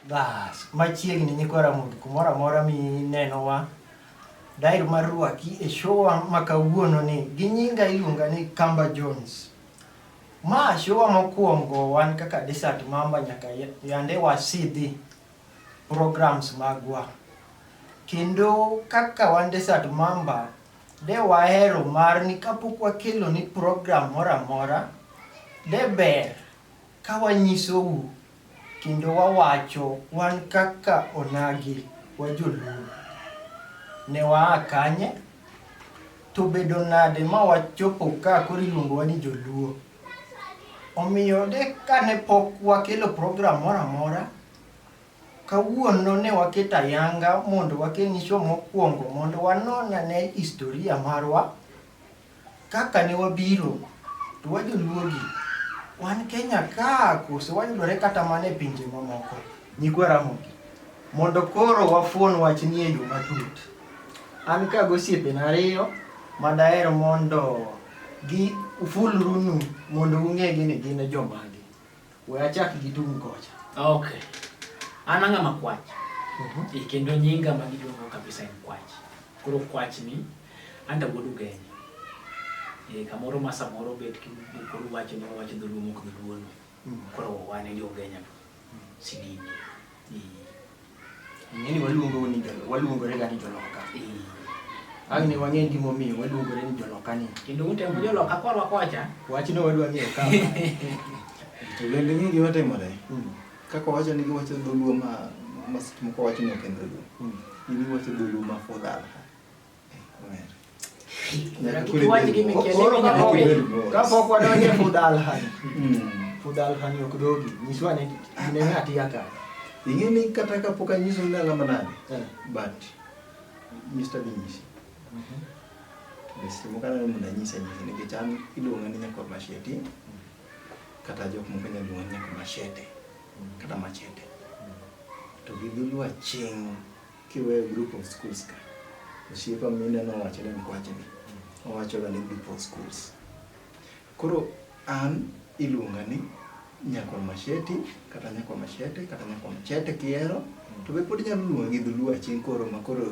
Bas, machiegni nyikwa Ramogi kumoro amora minenowa dair mar rwaki e showa ma kawuono ni gi nyinga iluonga ni Kamba Jones. Ma showa mokwongo wan kaka Desert Mamba nyaka yande wasidhi programs magwa. Kendo kaka wan Desert Mamba de wahero mar ni kapok wakelo ni program moro amora de ber ka wanyisou Kendo wawacho wan kaka onagi wajoluo. Ne waa kanye? To bedo nade ma wachopo ka koro iluongowa ni joluo? Omiyo de kane pok wakelo program moro amora, kawuono ne waketo ayanga mondo wakelni show mokwongo mondo wanon ane historia marwa. Kaka ne wabiro, to wa joluogi, wan Kenya ka koso wayudore kata mana e pinje mamoko, nyikwa Ramogi. Mondo koro wafuon wachni e yo matut. An ka gosiepena ariyo ma daher mondo gi ufulrunu mondo ung'egi ni gin jomage. We achak gi tung' kocha. Okay. An ang'a ma kwach. Mhm. E kendo nyinga ma giluongo kabisa en kwach. Koro kwach ni anda wuod ugenya. E kamoro ma samoro bet ki koro wacho ni wacho dholuo mok dholuo. Mhm. Koro wane jo ugenya. Sidini. Ng'eni waluongo ni jolo, waluongore ga ni joloka. Ang' ni wang'e gima omiyo waluongore ni joloka ni. Kendo utemo joloka korwa kocha. Wach no wadwa ng'eyo ka. To bende ng'e gima timore. Mm. Kaka wacho ni giwacho dholuo ma ma seche moko wacho ni ok en dholuo. Mm. Gini wacho dholuo ma fudhal. kapok wadonje fudalhan fudalhan ok dogi nyiswa ne inene atiya ka ing'e ni kata kapok anyiso ni alama nade eh. but mr binyisi besimo kana ni mnanyisa nyisi nikech an iluonga ni nyakor masheti kata jok moko nyalo luonga ni nyakor mashete kata machete to gi dholuo aching' Kiweyo group of schools ka, osiepa mine nowacho ni mkwache ni owacho ga ni group of schools. Koro an iluonga ni nyakwa Masheti kata nyakwa Mashete kata nyakwa Mchete kihero to be pod inyalo luonga gi dholuo aching' koro ma koro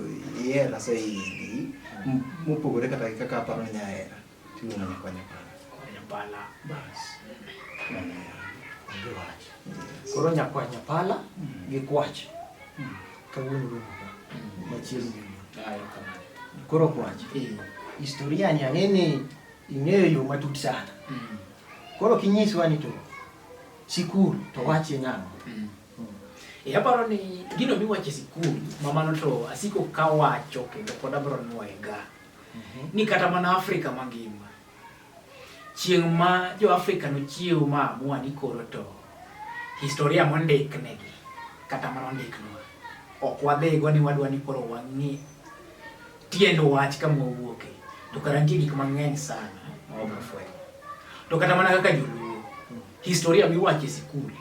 ihera saidi mopogore kata gi kaka aparo ni inya hera. Timu unanifanya pala. Kwanya pala. Bas. Ndio wacha. Koro nyakwanya pala mm. gi kwach. Mm. Kawuono romo ka. Mm. Machielo. Ayo kamano. Koro kwach. Eh. Historia ni ang'eni ing'eyo yo matut sana. Mm. Koro kinyiswa ni to sikul to wache nang'o? Mm. E aparo ni gino miwacho e sikul mamano to asiko kawacho kendo pod abiro nwoyega. ni kata mana Afrika mangima chieng' ma jo Afrika nochiew ma amua ni koro to historia mondiknegi kata mana ondiknwa ok wadhigo ni wadwa ni koro wang'e tiend wach ka mwawuoke to kara nitie gik mang'eny sana ma wabro fwenyo to kata mana kaka joluo historia miwacho e sikul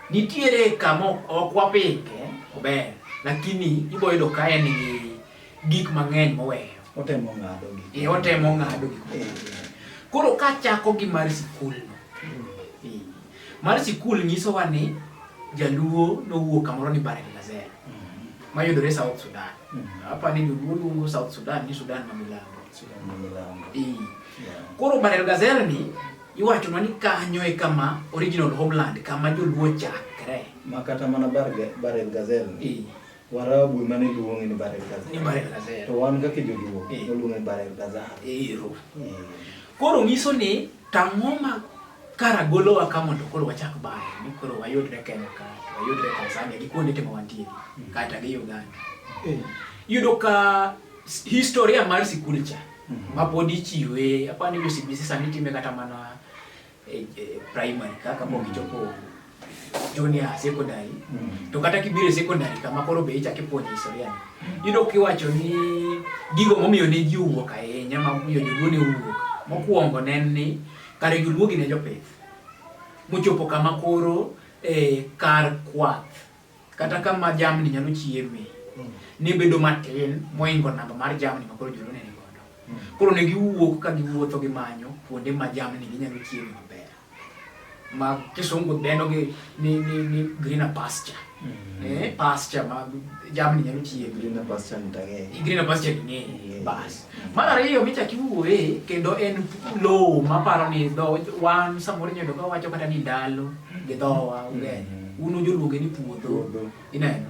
Nitiere kama ok wapike maber, lakini iboyudo ka en gi gik mang'eny moweyo. Otemo ng'ado gik. Ee, otemo ng'ado gik. Koro ka chako gi mar sikul no. Hmm. Mar sikul nyiso wa ni jaluo nowuok kamoro ni Barek Lazera. Hmm. Mayudore South Sudan. Hmm. Apa ni joluo luongo South Sudan ni Sudan ma milambo. Sudan ma milambo. Ee. Koro Barek Lazera ni Iwachonwa ni kanyo e kama original homeland kama joluo chakre. Ma kata mana Barel Gazel. Ee. Warabu ema ne luonge ni Barel Gazel. Ni Barel Gazel. To wan kaka joluo waluonge Barel Gazel. Ero. Koro nyiso ni tang'o ma kara golowa ka mondo koro wachak bayo ni koro wayudre Kenya ka wayudre Tanzania gi kuonde temo wantie mm. kata gi Uganda. Yudo ka historia mar sikul cha Mhm. ma pod ichiwe apani jo CBC sani itime kata mana e, e, primary kaka pok mhm. ichopo junior secondary mhm. to kata kibiro e secondary kama koro be ichak ipuonjo historia yudo kiwacho ni gigo momiyo ne ji owuok ahinya momiyo joluo ne owuok mokwongo ne en ni kare joluo gi ne jopith mochopo kama koro e, kar kwath Kata kama jamni nyalo chieme mm. ne bedo matin moingo namba mar jamni ma koro jolone ni godo. Mm. Koro ne giwuok ka giwuotho gi manyo kuonde ma jamni ginyalo chieme maber. Ma kisungu dendo gi ni ni ni green pasture. Mm. Eh, pasture ma jamni nyalo chieme. Green pasture ni tang'e. Green pasture ni ng'e. Bas. Mar ariyo michak iwuoye kendo en lowo maparo ni dho wan samoro inyodo ka wacho kata ni ndalo gi dhowa ugenya mm-hmm. un ujoluonge ni puodho ineno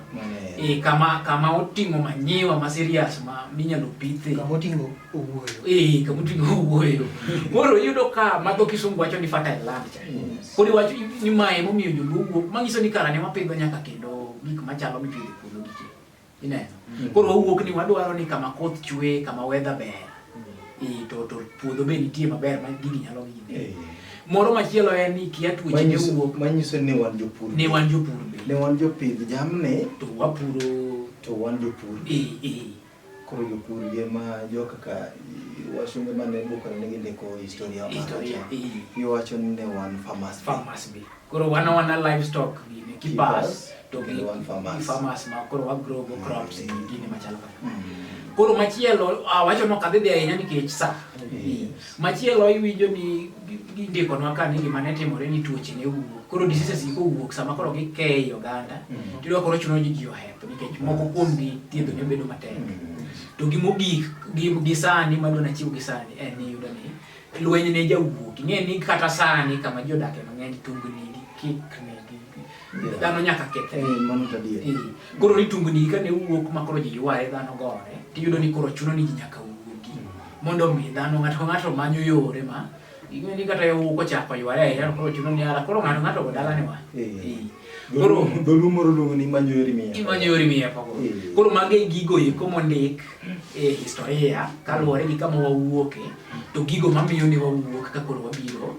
e kama kama oting'o manyiwa ma serious ma minyalo pithe kama oting'o owuoyo e kama oting'o owuoyo koro iyudo ka madho kisungu wacho ni fertile land cha kodi wacho ni mae momiyo joluo wuok manyiso ni karane wapidho nyaka kendo gik machalo mipidho Ineno? Mm. Koro wawuok ni wadwaro ni kama koth chwe, kama weather ber. Mm. To to puodho be nitie maber ma gigi nyalo gine. Eh. Moro machielo en ni kia tuoche ne wuok. Manyiso ni wan jopur. Ne wan jopur be. Ne wan jopidh jamni. To wapuro. To wan jopur. Eh eh. Koro jopur ye ma jo kaka wasunge mane bukore ne gindiko historia. Historia. Eh. Giwacho ni ne wan farmers. Farmers be. koro wana wana livestock gini kipas to gi Kendo wan farmers. farmers ma koro wa grow go crops gi gini machalo kaka koro machielo ah, wacho no kadhi dhi ahinya nikech sa Yes. machielo iwinjo ni gi- gindikonwa ka ni gima ne timore ni tuoche ne wuok koro diseases gi kowuok sama koro gikeyo oganda Mhm. tiyudo koro chuno ni ji ohep nikech moko kuom gi thiedho ne bedo matek to gimogik gi, gi sani madwa nachiw gi sani en ni yudo ni Lweny ne jawuok. Ing'e ni kata sani kama ji odakie mang'eny tungni gi kikni gi dhano nyaka kethre. Eh, mano to adier. Eh, Koro ni tungni ka ne wuok ma koro ji yware dhano gore, tiyudo ni koro chuno ni ji nyaka wuogi mondo omi dhano ng'ato ka ng'ato manyo yore ma ing'e ni kata yawuok ochako yware ahinya to koro chuno ni ara koro ng'ato ng'ato go dalane wa. Eh. Eh. Koro Dholuo moro luongo ni manyo yori miya. imanyo yore miye poko. Eh. Koro mage gigo eko mondik e historia kaluwore gi kama wawuoke to gigo mamiyo ni wawuok ka koro wabiro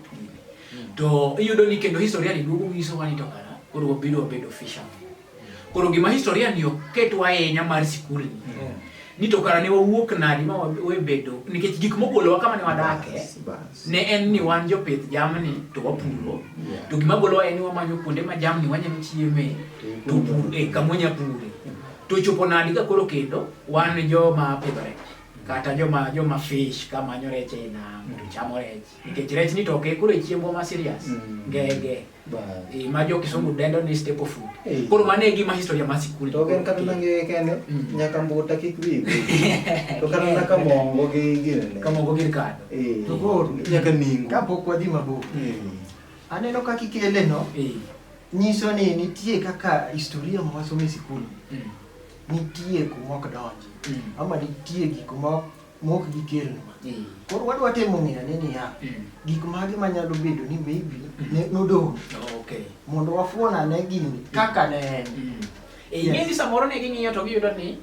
to iyudo ni kendo historia ni duogo nyiso wani to kara koro wabiro wabedo fisherman koro gima historia ni ok ketwa ahinya mar sikul ni mm. ni to kara ne wawuok nadi ma wabedo nikech gik mogolowa kama ne wadake ne en ni wan jopith jamni to wapuro to gima golowa en ni wamanyo kuonde ma jamni wanyalo chieme to pur e eh, kama wanyalo pure To chopo nadi ka koro kendo wan joma pidho rech kata joma joma fish ka manyo rech e nam to chamo rech nikech rech ni to ok e koro e chiembwa ma serious Mm. ngege Ba- e, ma jo kisungu dendo ni staple food Eh. koro mano e gima historia ma sikul to gen kata nange kende Mm. nyaka mbuta kik wi to kata naka mongo gi ginene kamogo gir kado Eh, To koro. nyaka ningo kapok wadhi mabor Eh, Aneno kaka ikele no. Eh. Nyiso ni nitie kaka historia ma wasomo e sikul. Mm. Nitie kuma ok donji. Mm. Ama nitie gik ma mok gikelnwa. Mm. Koro wadwa temo ng'eyo ni niya, mm. gik mage manyalo bedo ni maybe mm. ne nodong'. Oh, okay. Mondo wafuon ane gini mm. kaka ne en. Mm. E, ing'e ni samoro ne ging'iyo to giyudo ni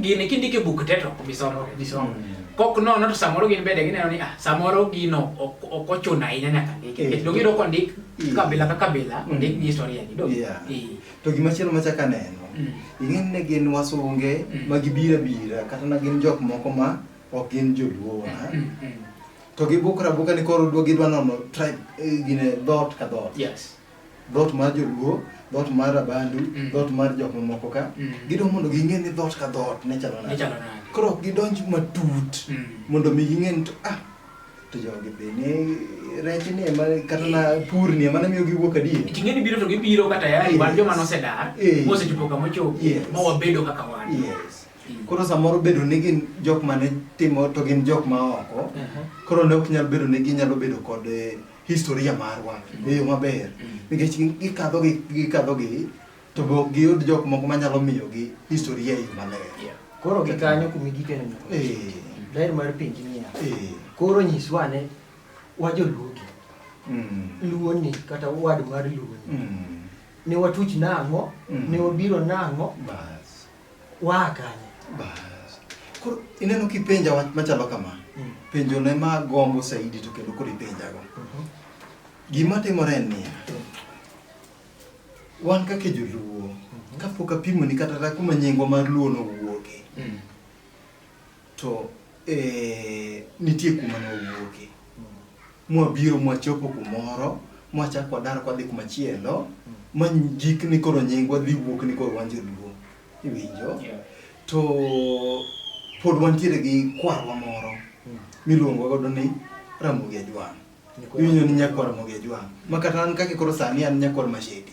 gini kindiko e buk te to ok bisomo bisomo mm. kok nono to samoro gin bende gineno ni ah samoro gino ok ochuno ahinya nyaka ndik eh. nikech dogiyudo kondik eh. kabila ka kabila mm. ondik gi historia gi dog eh. to gima chielo machak aneno mm. ing'eni ne gin wasunge ma gibira bira kata na gin jok moko ma ok gin joluo wa to gibukra buka ni koro dwa gidwa nono tribe gine dhoot ka dhoot yes dhot mar joluo dhot mar abandu mm. dhot mar jok mamoko ka mm. gidwa mondo ging'e ni dhot ka dhot ne chalo nade koro ok gidonj matut mm. mondo mi ging'e ni to ah to jogi be ne rech ni ema kata na pur ni ema namiyo giwuok adier ting'e ni biro to gibiro kata yari wan joma nosedar eh. mosechopo kama ochopo ma wabedo kaka wan koro samoro bedo ni gin jok mane timo to gin jok ma oko uh-huh. koro ne ok nyal bedo ni ginyalo bedo kod eh, historia marwa e yo maber nikech gikadho gi gikadho gi to be ok giyud jok moko manyalo miyogi historia e yo maler Koro gi kanyo kumi gikene nyaka. Eh, Daher mar penji niya. eh, Koro nyiswa ane wa joluo gi. mm, Luo ni kata wad mar luo ni. mm, Ne watuch nang'o? Mm. Ne wabiro nang'o? bas Waa kanye? Bas. Koro ineno kipenja wach machalo kama. Mm. Penjo ne ma gombo saidi to kendo koro ipenjago. Mm -hmm. Gima timore en niya. Mm. Wan kaka joluo, mm -hmm. kapok apimoni kata kuma nyingwa mar luo nowuoke. Mm. To eh, nitie kuma ne wawuoke mwabiro mwachopo kumoro mwachako wadar kwadhi kumachielo ma jik ni koro nyingwa dhi wuok ni koro wan joluo iwinjo Yeah. to pod wantiere gi kwarwa moro miluongo godo ni ramogi ajwang' iwinjo ni nyakwar ramogi ajwang' ma kata an kaki koro sani an nyakwar masheti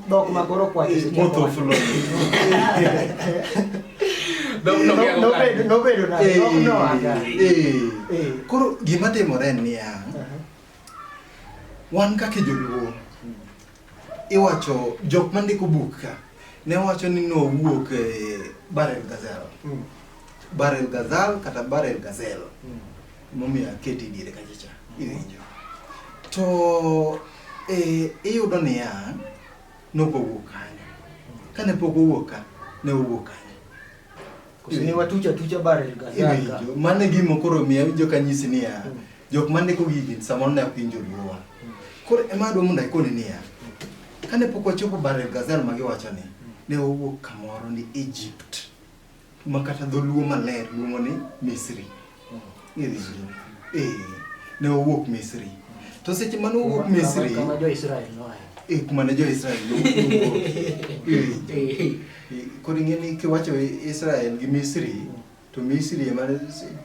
Dhok ma koro kwacho seche moko. Motho fulo. Dhok no kia No- nobedo- kokalo. nobedo na- Eh, no- no aga. eh. Eh. Koro gima timore en niya, Aha. wan kaka joluo iwacho jok mandiko buk ka ne wacho ni nowuok e barel gazelle Mm. barel gazal kata barel gazelle Mm. Emomiyo aketi diere kacha cha. Iwinjo. To eh, iyudo niya nogo wuok kanyo. Kane pok owuok ka ne owuok kanyo. Kusini watucha tucha bare gazaka. Iwinjo. Mane gimo koro miya winjo kanyisi niya jok mane ko gigi samoro ne ok winjo luwa. Koro ema adwa mondo ikoni niya kane pok wachopo bare gazal ma giwacho ni ne owuok kamoro ni Egypt. ma kata dholuo maler luongo ni Misri. Ng'eri ji. Eh, ne owuok Misri. To seche mane owuok Misri, Kama jo Israel noae. eh, kuma ne jo-Israel nowuok. Eh, koro ing'e ni kiwacho Israel gi Misri, to Misri ema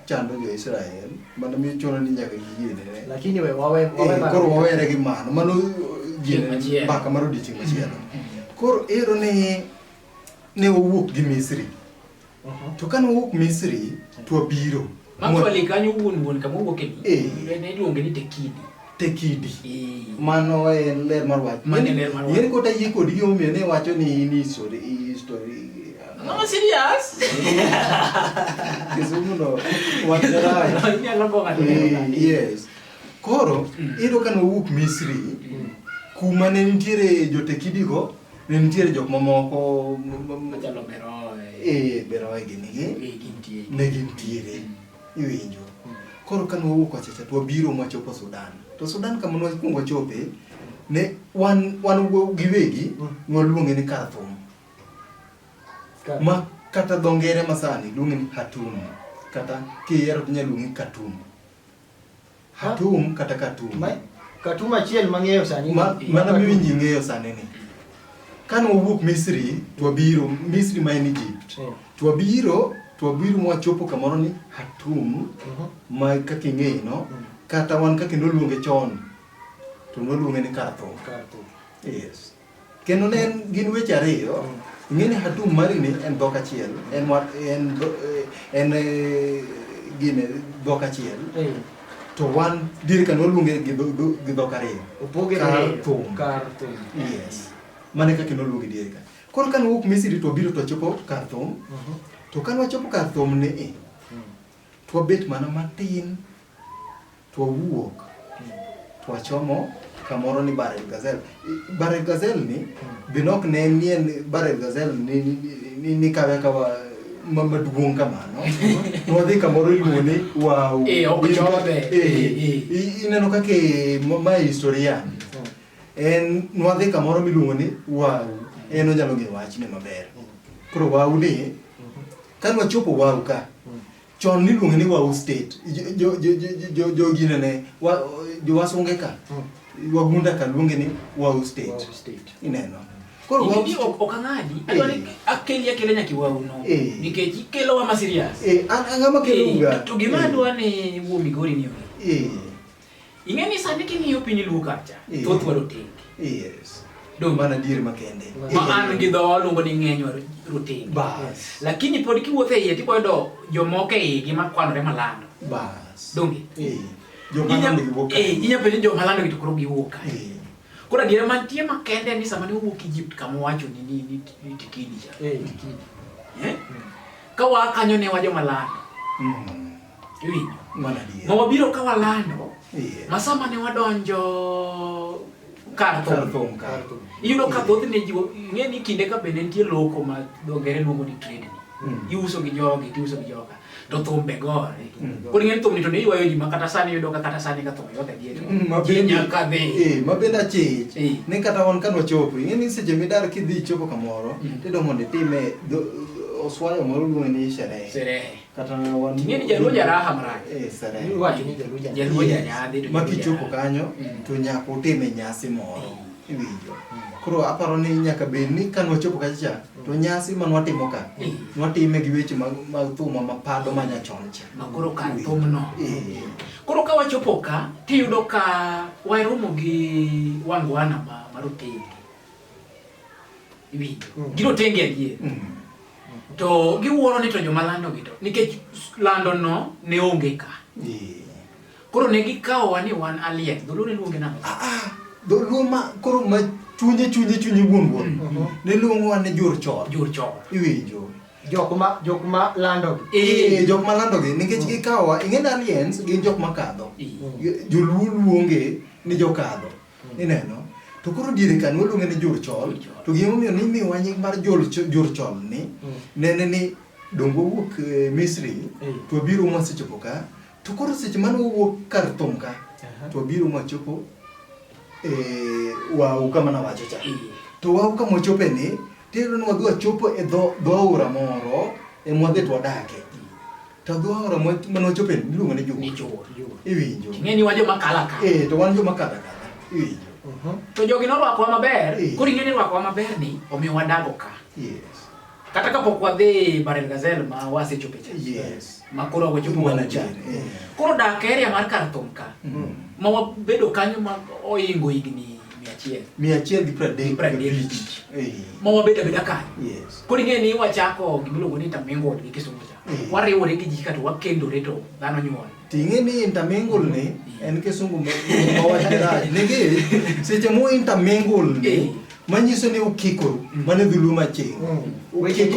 chando jo-Israel, mano miyo chuno ni nyaka giyienere. Lakini we wawe Eh, wawe mara- koro wawere gi mano mano Chieng' machielo. mbaka mar odiechieng' machielo koro ero ni ne wawuok gi Misri. Mhm. To kane wawuok Misri to wabiro. Actually kanyo wuon wuon kama wuok e eh. ne iluonge ni Tekidi. Tekidi. Eh. Mano e ler mar wach. Mano e ler mar wach. Yeri kota yie kod gi omiyo ne wacho ni ni story story. No serious. Kisumu no. Wach rai. Inyalo go ng'ato. Eh, yes. Koro, mm. iyudo ka nowuok Misri, mm. kuma ne nitiere jotekidigo, Ne nitiere jok mamoko machalo Beroe. Eh, Beroe gini gi. Eh, gintiere. Ne gintiere. Mm. Iwinjo. Mm. Koro ka nwawuok wachacha to wabiro mwachopo Sudan. To Sudan kama nwakwongo wachope ne wan wan giwegi mm. nwaluonge ni Khartoum. Ma kata dho ngere masani luonge ni Khartoum kata kihero tinya luonge Khartoum. Katum kata Katum. Ma, Katum achiel mang'eyo sani. Ma, mana miwinji ng'eyo sani ni. Kane wawuok Misri, twabiro Misri ma en Egypt. Yeah. Twabiro, twabiro mwachopo kamoro ni Hatum uh mhm. -huh. ma kaka ing'eyo no, mm. kata wan kaka noluonge chon to noluonge ni Karthum. Karthum. Yes. Kendo ne en gin weche ariyo, ing'e ni Hatum Mari ni en dhok achiel, en wa- en dho- eh, en eh, gine dhok achiel. To wan dir ka noluonge gi dho- dho- gi dhok ariyo. Opoge Kar ariyo. thum. Kar thum. Yes. Mane kaka noluonge dier ka. Koro ka nowuok Misri to obiro to ochopo kar thum. To ka nochopo kar thum ni i, Twabet mana matin twawuok twachomo kamoro ni Barel Gazelle. Barel Gazelle ni be nok ne nien Barel Gazelle ni, ni, ni, ni kawe kawa ma- maduong' kamano nwadhi kamoro iluongo ni wow Eh, ok jobe. Eh, Eh, eh. i- ineno kaka e- ma- ma historian en nwadhi kamoro miluongo ni wow en onyalo ng'e wachne maber koro wow ni Kane wachopo Waru ka, chon niluonge ni Waru State. Jo- jo- jo- jo- jo- Jogine ne, wa- jowasunge ka, wagunda ka luonge ni Waru State. Waru State. Ineno. Koro Waru Gini ok ok ang'adi. Adwa ni akeli akela nyaka iwaru no. Eh. Nikech ikelowa ma serious. Eh, an ang'ama kelo Eh, uga. To gima adwa ni wuo Migori ni onge. Eh, Ing'e ni sani king'iyo piny luo kacha, Yeah. thoth wa rotenge. Yes. Donge? Mana dier makende. Ma an gi dhowa waluongo ni ng'eny wa rotenge. Bas. Lakini pod kiwuotho e iye tiboyudo jomoko e igi makwanore malando. Bas. Donge? Eh. Jo Inya- manande giwuok. eh, inya penjo jo malando gi to koro giwuok kae. Eh. Koro adiera mantie makende ni sama ne owuok Egypt kama owacho ni ni ni ni tikidi cha. Eh, tikidi. Eh? Ka waa kanyo ne wa joma lando. Mm. Iwinjo? Mana diye. Ma wabiro ka walando. Iye. Masa mane wadonjo kar Kar thum. thum kar. Iyudo ka thothne ji ng'e ni kinde ka bende nitie loko ma dho ngere luongo ni trade. Mm. Iuso gi jogi, tiuso gi joga. To thum be gore. Mm. Koro ing'e ni thum ni to ne ywayo ji ma kata sani iyudo ka kata sani ka thum yothe gi eto. Mm, ma Ji bende- nyaka dhi. Eh, ma bende achich Eh. ni kata wan kano chopo ing'e ni seche midar kidhi chopo kamoro Mm. tido mondo itime dho- oswayo moro luonge ni sherehe Sherehe. kata wan ing'e ni jaluo jaraha marach eh sare iwacho ni jaluo jaraha jaluo jaraha bedo ma kichopo kanyo mm. to nyaka utime nyasi moro mm. iwinjo mm. koro aparo ni nyaka bed ni ka nwachopo kacha to nyasi ma nwatimo ka nwatime gi weche mag thuma ma pado ma nyachon cha ma koro ka thumno eh. koro ka wachopo ka tiyudo ka waromo gi wangwana ma marotenge iwinjo mm. gino tenge adier mm. to giwuoro ni to joma lando gi to nikech lando no ne onge ka koro ne gikawowa ni wan alien dholuo ne luonge nang'o ah, ah. dholuo ma koro ma chunye chunye chunye wuon wuon mm. mm-hmm. ne luongowa ni jur chor jur chor iwinjo jokma jokma landogi ee jokma landogi nikech mm. gikawowa ing'e ni aliens gin jokma kadho joluo luonge ni jokadho Ineno? To koro diere kani waluonge ni jor chol, to gima omiyo ni imiwa nying mar jor chol ni, mm. nene ni dongo wuok eh, Misri, eh. to wabiro mwa sechopo ka, to koro seche mane wawuok kar thum ka, to wabiro mwa chopo eh, wau kama nawacho cha. To wau kama wachope ni, tiyudo ni wadhi wachopo e dho aora moro, e mwadhi to wadake. To dho aora mwa ma nwachope iluongo ni Jur. Ni Jur. Iwinjo. Ing'e ni wan joma kala ka. Eh, to wan joma kala ka. Iwinjo. Uh-huh. To jogi norwakowa maber, eh. koro ing'e ni rwakowa maber ni omiyo wadago ka. Yes. Kata kapok wadhi Barel Gazelle ma wasechope cha. Yes. Ma koro wachopo wana cha. Eh. Koro dak area mar kar thum ka. Mm. Ma wabedo kanyo ma oingo higni achiel mia achiel gi pradek pradek ma wabet abeda kanyo koro ing'e ni wachako gimiluongo ni tamingo gi kisungu cha eh. wariwore gi ji kato wakendore to dhano nyuol ting'e ni intermingle ni eh. en kisungu mawach garaj nigi seche mo intermingle ni eh. manyiso ni ukikoru mm. mane dhulu maching mm. weche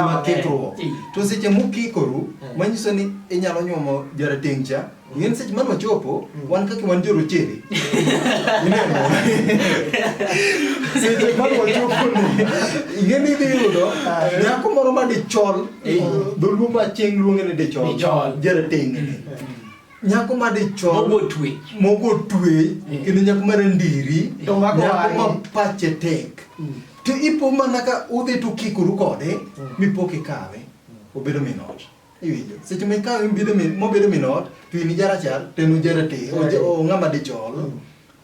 makikruok to seche mukikoru manyiso ni inyalo nyuomo jarateng' cha Ng'en seche mano ochopo, wan kaka wan jorochere. Ineno? Seche mano ochopo ni, ing'eni idhi yudo nyako moro ma dichol, dholuo ma chieng' luonge ni dichol. Dichol. Jarateng' ni. Nyako ma dichol. Mogo twe. Mogo twe, kendo nyako ma randiri, To mako nyako ma wang'e. pache tek. To ipo mana ka udhi to ukikoru kode, mipo kikawe, obedo min ot. Iwinjo? Seche ma ikawe mobedo min mobedo min ot, to in ija rachar to en oja rateng', oja o ng'ama dichol.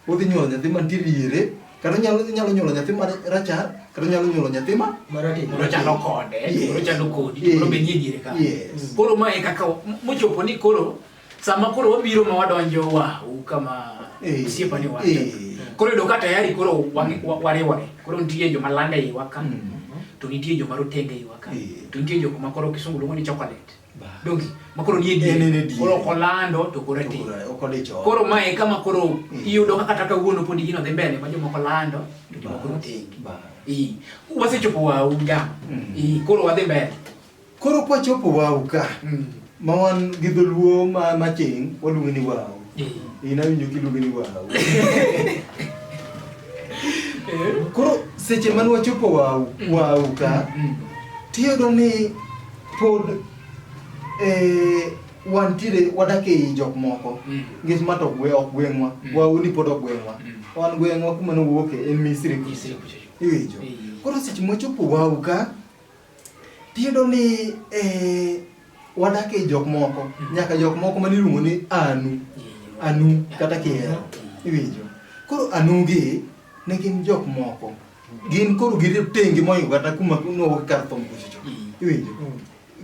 Udhi nyuolo nyathi mantie diere, kata onyalo onyalo nyuolo nyathi ma rachar, kata onyalo nyuolo nyathi ma Marateng'. Moro chalo kode, Yes. moro chalo kodi, Yes. moro be nie diere ka. Yes. Koro ma e kaka mochopo ni koro Sama koro wabiro ma wadonjo wa kama eh, osiepa ni wacho. Eh. Koro yudo ka tayari koro wariwore. Koro nitie joma landa e iwa ka. Mm. To nitie joma rotenge e iwa ka. Eh. To nitie jok ma koro kisungu luongo ni chocolate. Dongi ma koro nie diere. Koro kolando to koro ti. Koro ma e kama koro mm. iyudo kaka kata kawuono pod gino dhi mbele ma joma kolando to joma koro tenge. Wasechopo wa ugam. Mm. Koro wadhi mbele. Koro kwa chopo wau ka mm. ma wan gi dholuo ma ma ching waluonge ni wau. Eh. Ina winjo kiluonge ni wau. Eh. Koro seche man wachopo wau mm. wau ka mm. tiyudo ni pod eh wantiere wadak ei jok moko mm. ngech ma to gwe ok gweng'wa mm. wauni pod ok gweng'wa mm. wan gweng'wa kuma nowuoke en misri iwinjo koro seche mochopo wau ka Tiyudo ni eh, wadak e jok moko mm. nyaka jok moko mane iluongo ni anu anu kata kihero iwinjo koro anugi ne gin jok moko gin koro giri tengi moingo kata kuma nogo kar thom kuchocho mm. iwinjo mm.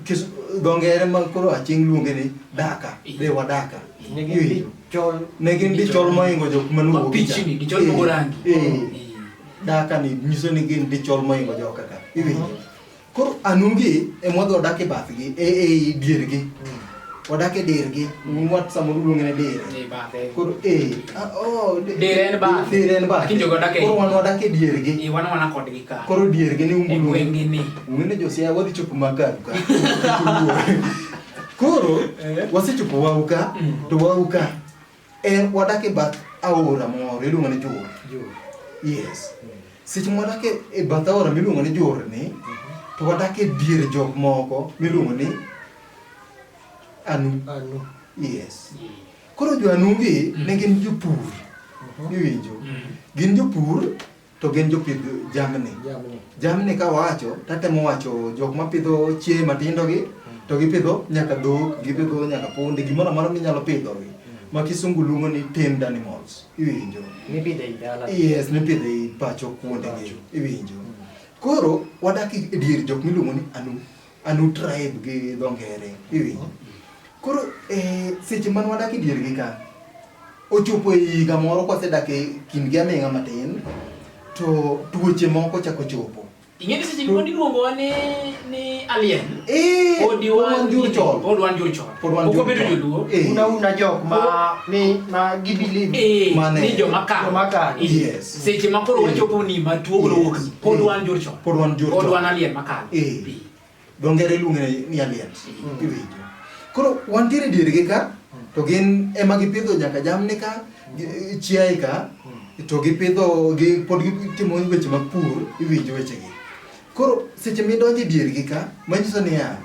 kis dho ngere ma koro aching luonge ni daka de wadaka iwinjo ne gin dichol moingo jok maluongo pichni dichol mogo rangi dak ka ni nyiso ni gin dichol moingo joka ka iwinjo koro anugi ema wadhi wadak e bathgi e e diergi wadak e dirgi wat samoro luonge ne dire Ni bathe. koro e ah, oh, di- Dire en bath. dire en bath Lakini jogo wadak e- koro wan wadak e diergi Ni wan wana kodgi ka. koro diergi ni E umbulu gweng'gi ni. ungene josia wadhi chopo magaru ka koro wasechopo wau ka to wau ka En wadak e bath aora moro iluongo ni Jur. Jur. Yes. Mm. Seche ma wadak e, e bath aora miluongo ni Jur ni, mm -hmm. to wadak e dier jok moko miluongo ni Anu. Anu. Yes. Mm. Koro jo Anu gi mm. ne gin jopur. Uh mhm. -huh. Iwinjo? Mm. Gin jopur to gin jopidh jamni. Jamni. Jamni ka wacho, tatemo wacho jok ma pidho chieye matindo gi, to gipidho nyaka dhok, gipidho nyaka punde, gimoro amora minyalo pidho gi. Ma kisungu luongo ni tamed animals. Iwinjo? Mipidho ei dala. Yes, mipidho ei pacho kuonde gi. Iwinjo? Koro wadak e dier jok miluongo ni anu. a new tribe gi dho ngere iwinjo koro eh, seche man wadak e diergi ka ochopo e higa moro kwasedak e kindgi aming'a matin to tuoche moko chako chopo ing'e ni seche moko niluongowa ni ni alien Eh, pod wan wan jurchon. pod wan jurchon Pod wan ok obedo jurchon. joluo Eh. una una jok ma ni ma gibelieve Eh, Mane? ni joma kalo Joma kalo. Eh. yes seche ma koro wachopo ni matuo koro wuok ni pod wan jur chon pod wan jur chon pod wan alien makalo eh dong ngere luonge ni alien mm. iwinjo koro wan tiere dier gi ka to gin ema gipidho nyaka jamni ka chiaye ka mm. to gipidho gi pod gitimo weche mag pur iwinjo weche gi koro seche midonje dier gi ka manyiso ni ya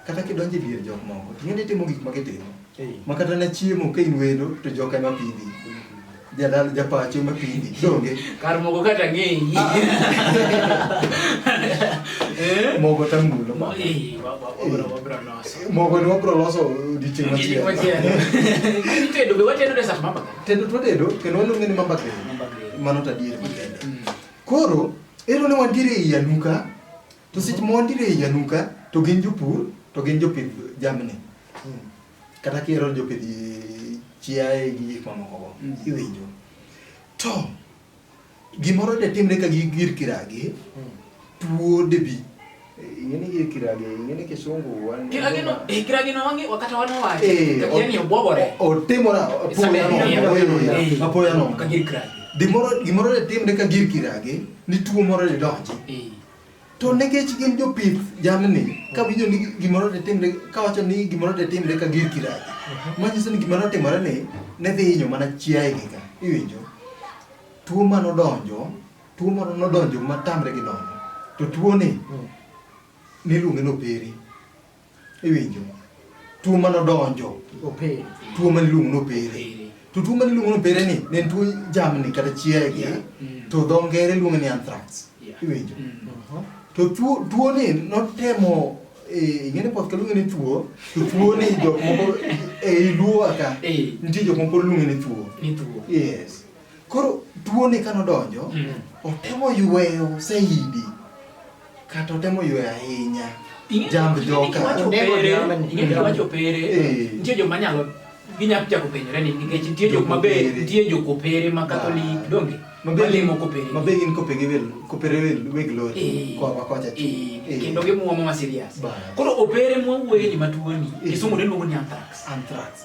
kata kidonjo e dier jok moko to ing'eni itimo gik ma gitimo ma kata ne chiemo ka in wendo to jok ema pidhi jadal japacho ema pidhi donge kar mogo kata ng'eyi mogo tamulo ma Eh, wa- wa- wabro- wabro loso. mogo ni wabro loso odiochieng' Odiochieng' machielo machielo. Itedo be watedo de sat mama. tedo twatedo kendo waluonge ni mamba green Mamba green. mano to adier makende Mm. koro ero ne wantiere ei anuka To seche ma wantiere ei Nyanuka, to gin jopur, to gin jopidh jamni. Kata kihero jopidh chiaye gi gik mamoko go, iwinjo. To, gimoro de timre ka gi gir kiragi, tuo de bi. Ing'eni gir kiragi, ing'eni kisungu wan. Kiragi no, eh, kiragi no wangi, wakata wana wae. Eh, Kati yani obobore. o- otimora Isabe, apoya nono, eh, apoya nono, eh, apoya nono. Kagir kiragi. Gimoro gimoro de timre ka gir kiragi, ni tuo moro de donji. Eh. To nikech gin jopith jamni, ka winjo ni gimoro de timre, ka wacho ni gimoro de timre ka gir kiraji, mhm. manyiso ni gimoro timore ni ne dhi hinyo mana chiaye gi ka, iwinjo? Tuo ma nodonjo, tuo ma nodonjo ma tamre gi donjo, to tuo ni mm. niluonge noperi. Iwinjo? Tuo mane odonjo. Opere. Tuo mane iluongo ni opere. To tuo mane iluongo ni opere ni ne en tuo jamni kata chiaye gi. Mm. To dho ngere iluongo ni anthrax. Iwinjo? Mm. Uh-huh. To tuo tuo ni notemo eh, ing'e ni poth kaluongo ni tuo to tuo ni jok moko e eh, iluo aka eh. nitie jok moko luongo ni tuo. Ni tuo. Yes. Koro tuo ni kano donjo mm. otemo yweyo saidi. Kata otemo ywe ahinya. Jamb joka. Wacho pere. Eh. Nitie joma nyalo ginyalo chako penyore ni nikech nitie jok maber nitie jo kopere ma katholik ah. donge malimo kopere mabe gin kopege wel kopere wel weg lori eh. kwa kocha eh. eh. kendo gimuomo ma serious koro opere mwawuoye ni matuoni kisumu ne luongo ni anthrax anthrax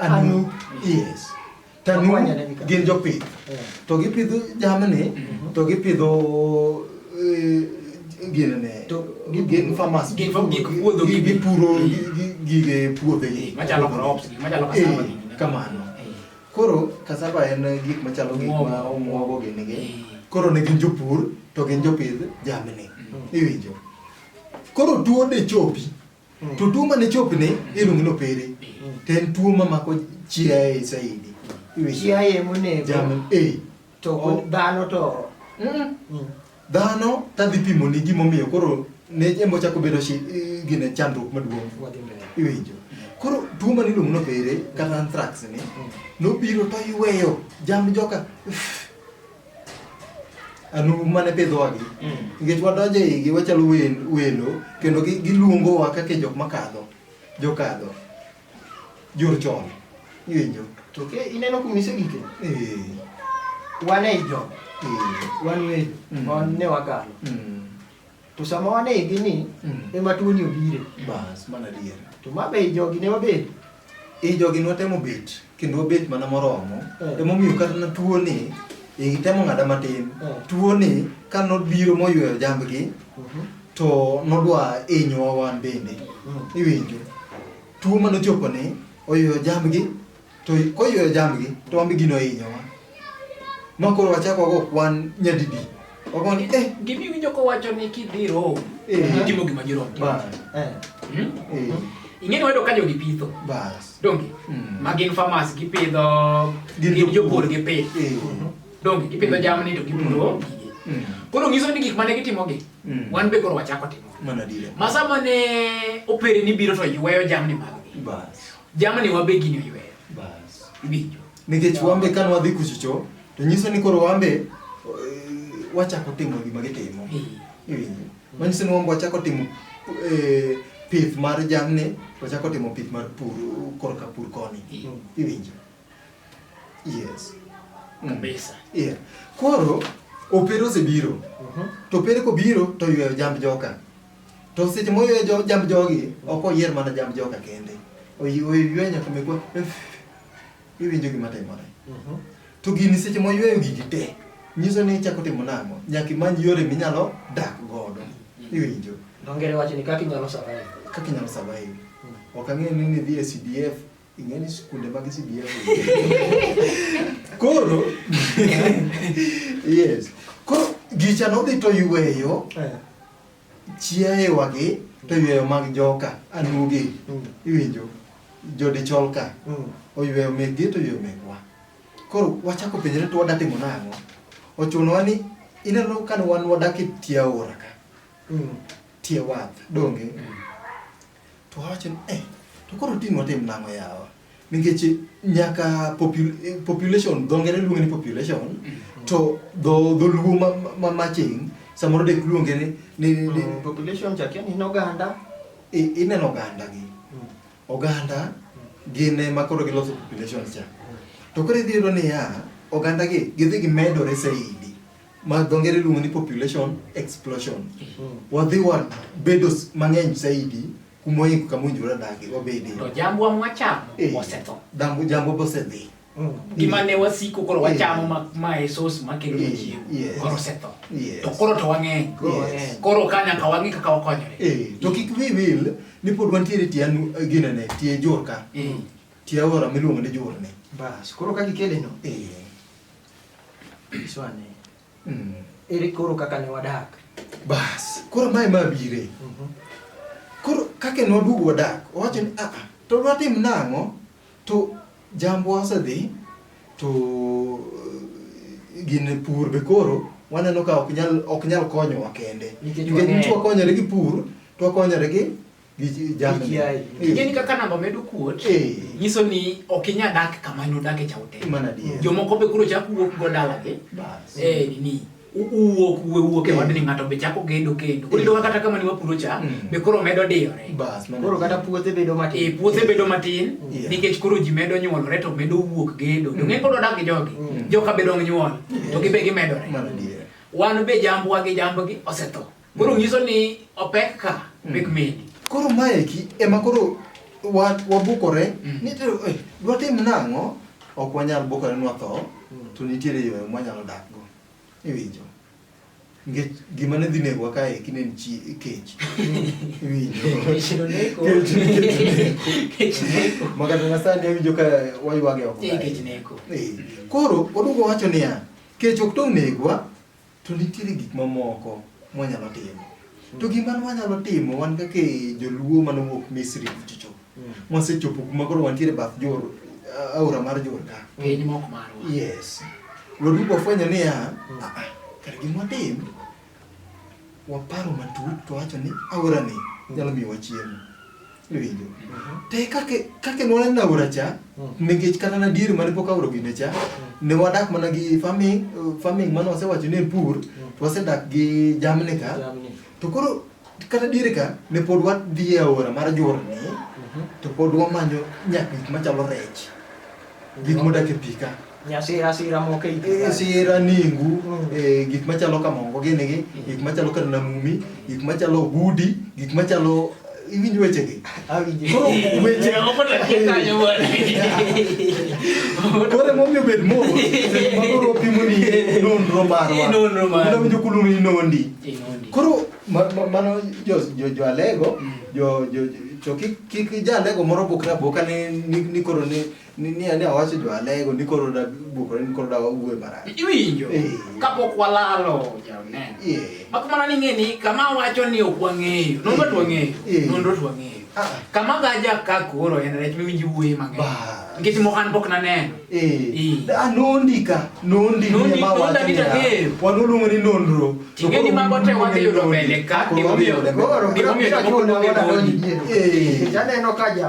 Anu, yes. Tanu gin jopith. To gipidho jamni, to gipidho eh, gin ne. To gin farmers. Gin gik puodho gi gipuro gige puodho gi. Machalo crops, machalo cassava gi. Eh, kamano. Eh. Koro cassava en gik machalo gik ma omwogo gini gi. Koro ne gin jopur to gin jopith jamni. Mm. Iwinjo. Koro tuo de chopi. Mm. To tuo mane chopne iluongo ni opere. Mm. To en tuo ma mako chiaye saidi. Chiaye monego. Jamni. Eh. To oh. dhano to. Mm. Mm. Dhano tadhi pimo ni gimomiyo koro ne embo chako bedo shi eh, gine chandruok maduong'. Iwinjo. Koro tuo mane iluongo ni opere kata anthrax ni mm. nobiro to iweyo jamni joka. anugu mane pidhwagi nikech wadonjo e igi wachalo wel- welo kendo gi- giluongowa kaka jok makadho jokadho jor chon iwinjo To ke ineno kuma isegike? Eh, Wan ei job. eh, Wan weyo. Mm. Wan ne wakalo. Mm. To sama wanegi ni mm. ema tuoni obire. Bas, mana dier. To ma be jogi ne wabet. E jogi ne watemo bet, kendo wabet mana moromo. Eh. Ema omiyo kata na tuoni, e gitemo ng'ada matin. Eh. Tuoni ka nobiro moyweyo jambgi, mhm. to nodwa inyowa wan bende. Mm. Iwinjo. Tuo manochopo ni, oyweyo jambgi, To koyweyo jambgi, to wan be gino ohinyowa. Ma koro wachak wago kwan nyadidi. Wago ni, eh, Gima iwinjo kowacho ni kidhi Rome, Eh. itimo gima jirome timo. ba, eh, Hmm? eh, Ing'e ni wayudo ka jogi pitho. bas. Donge? Mm. Ma gin farmers gipidho Gin gin jopur. jopur gipith. Eh, Donge gipidho jamni to gipuro gigi. mm, Koro nyiso ni gik mane gitimogi, Mm. wan be koro wachako timo. mana dile. Ma sama ne opereni biro to yweyo jamni maggi. Bas. Jamani wabe gini oyweyo. Bas. Winjo. Nikech wambe ka nwadhi kuchicho to nyiso ni koro wambe eh, wachako timo gima gitimo. Eh. Iwinjo. Manyiso ni wambe wachako timo eh, pith mar jamni, wachako timo pith mar pur korka pur koni. Eh. Iwinjo. Yes. Mm. Kabisa. Yeah. Koro opere osebiro. Uh mhm. -huh. To opere kobiro to yweyo jamb joka. To seche moyweyo jo, jamb jogi ok oyier mana jamb joka kende. Oyweyo nyaka mekwa iwinjo gima timore. Uh mhm. -huh. To gini seche moyweyo gigi te nyiso ni ichako timo nang'o nyaka imany yore minyalo dak godo. Mm -hmm. Iwinjo. Dongere wacho ni kaka inyalo survive. Kaka inyalo survive. Mm. Ok ang'eyo ni ni dhi e CDF Ing'e ni sikunde mag CDF. Koro yes. Koro gicha nodhi to yweyo Eh, chiayewa gi to yweyo mag joka anugi mm, iwinjo jodichol ka mm. oyweyo mekgi to oyweyo mekwa koro wachako penjre to wadatimo nang'o ochunowa ni ineno kane wan wadak e tie aora ka Mm, tie wath donge To awacho ni eh, to koro tin watim nang'o yawa? Nikech nyaka popul eh, population, dho ngere luonge ni population, mm. to dho dholuo ma, ma maching, samoro dek luonge ni, ni, ni mm, population chak yani in oganda. Ineno oganda gi. Mm. Oganda gin ema koro giloso population cha. To koro idhi yudo niya, oganda gi gidhi gimedore saidi. ma dho ngere luongo ni population explosion. Mm-hmm. Wadhi wabedo mang'eny saidi kuma oingo kama owinjore adagi wabede. To jambwa mwachamo eh, osetho. Dambu jambwa bosedhi. Mm. Gima ne wasiko koro wachamo ma ma esos ma kendo eh, chiemo. Koro osetho. To koro to wang'eny. Koro ka nyaka wang'i kaka wakonyore. Eh, to kik wi wil ni pod wantiere tie ginene tie jorka. Tie aora miluongo ni jorne. Bas, koro ka gikele no. Eh. Iswane. Mm. Ere koro kaka ne wadak? Bas, koro mae ma bire. Mm -hmm. Koro kaka ne waduogo wadak, owacho ni aa, to watim nang'o? To jambo osedhi to gin pur be koro waneno ka ok nyal ok nyal konyowa kende. Nikech wang'eny. Nikech wakonyore gi pur, to wakonyore gi gi chi- jamni. Chiaye. Eh, Ing'eni kaka namba medo kuot, Eh. nyiso ni ok inya dak kama ne udake cha ute. Mana adier. Jomoko be koro chako wuok go dalagi. Bas. Eh, nini? u- Uwuok uwe wuok e Eh. wadni ng'ato be chako gedo kendo. Koro Eh. iyudo ka kata kama ne wapuro cha, Mm. be koro medo diyore. Bas, mana Koro kata adier. puothe bedo matin. Eh, puothe bedo matin Yeah. nikech koro ji medo nyuolore to medo wuok gedo. To ng'e koro odak gi jogi. Joka be dong nyuol. To gibe gimedore. Mana adier. Wan be jambwa gi jambgi osetho. Koro nyiso ni opek ka hmm. pek medi. Koro maeki ema koro wabukore hmm. ni to eh, dwatim nang'o ok wanyal bukore ni watho hmm. to nitiere yo mwanyalo dakgo. Iwinjo? Nikech gima ne dhi negowa kae eki ne en kech. Iwinjo? Kech neko. Kech neko. Makata na sani awinjo ka waywage oko. Kech neko. Eh, koro odugo wacho niya, kech ok tong' negwa To nitiere gik mamoko mwanyalo timo. To gima nwanyalo timo wan kaka e joluo mane owuok Misri kucho cho. Mwasechopo kuma koro wantiere e bath Jor- a- aora mar Jordan. Piny mok marwa. Yes. Waduogo wafwenyo niya, "Ah, ah, kare gima watim waparo matut to wacho ni aora ni nyalo miyo wachiemo iwinjo te kake kake nwana na aora cha nikech kata na dier mane pok aora gine cha ne wadak mana gi farming uh, farming mane wasewacho ni en pur to wasedak gi jamni ka Jamni. to koro kata diere ka ne pod wadhi e aora mar jorni to pod wamanyo nyak gik machalo rech gik modak e pi ka Nyasira sira moko e igi. Eh, sira ningu eh, gik machalo kamongo gini gi gik machalo kar namumi gik machalo gudi gik machalo iwinj wechegi Awinjo. koro weche koro emomiyo bed mos seche ma koro opimo ni nonro marwa Nonro marwa. Kendo winjo kulu ni nondi Inondi. koro ma- ma- mano jo- jo- joalego jo- jo- jo- to kik kik jalego moro bukre abuka ni ni- ni koro ni Ni ni ane awacho jo alego ni koro da bukore ni koro da wuwe marach. Iwinjo Eh. kapok walalo jaoneno. Yeah. Mak mana ni ng'e ni kama wacho ni ok wang'eyo, nonro to wang'eyo, Eh. nonro to wang'eyo. Ah. Kama gaja ka koro en rech miwinji wuoye mang'eny. Ba. Nikech mo an pok naneno. Eh. Eh. Da nondika, nondi Nondi- ni ma wacho nondagi ni. tang'eyo. Wanu luongo ni nonro. Ting'e ni mago te wadhi yudo mbele ka, gimomiyo- Koro gimomiyo biro jomoko chuno luonge mondo adonj nondi. diere. Eh. Nikech aneno ka ja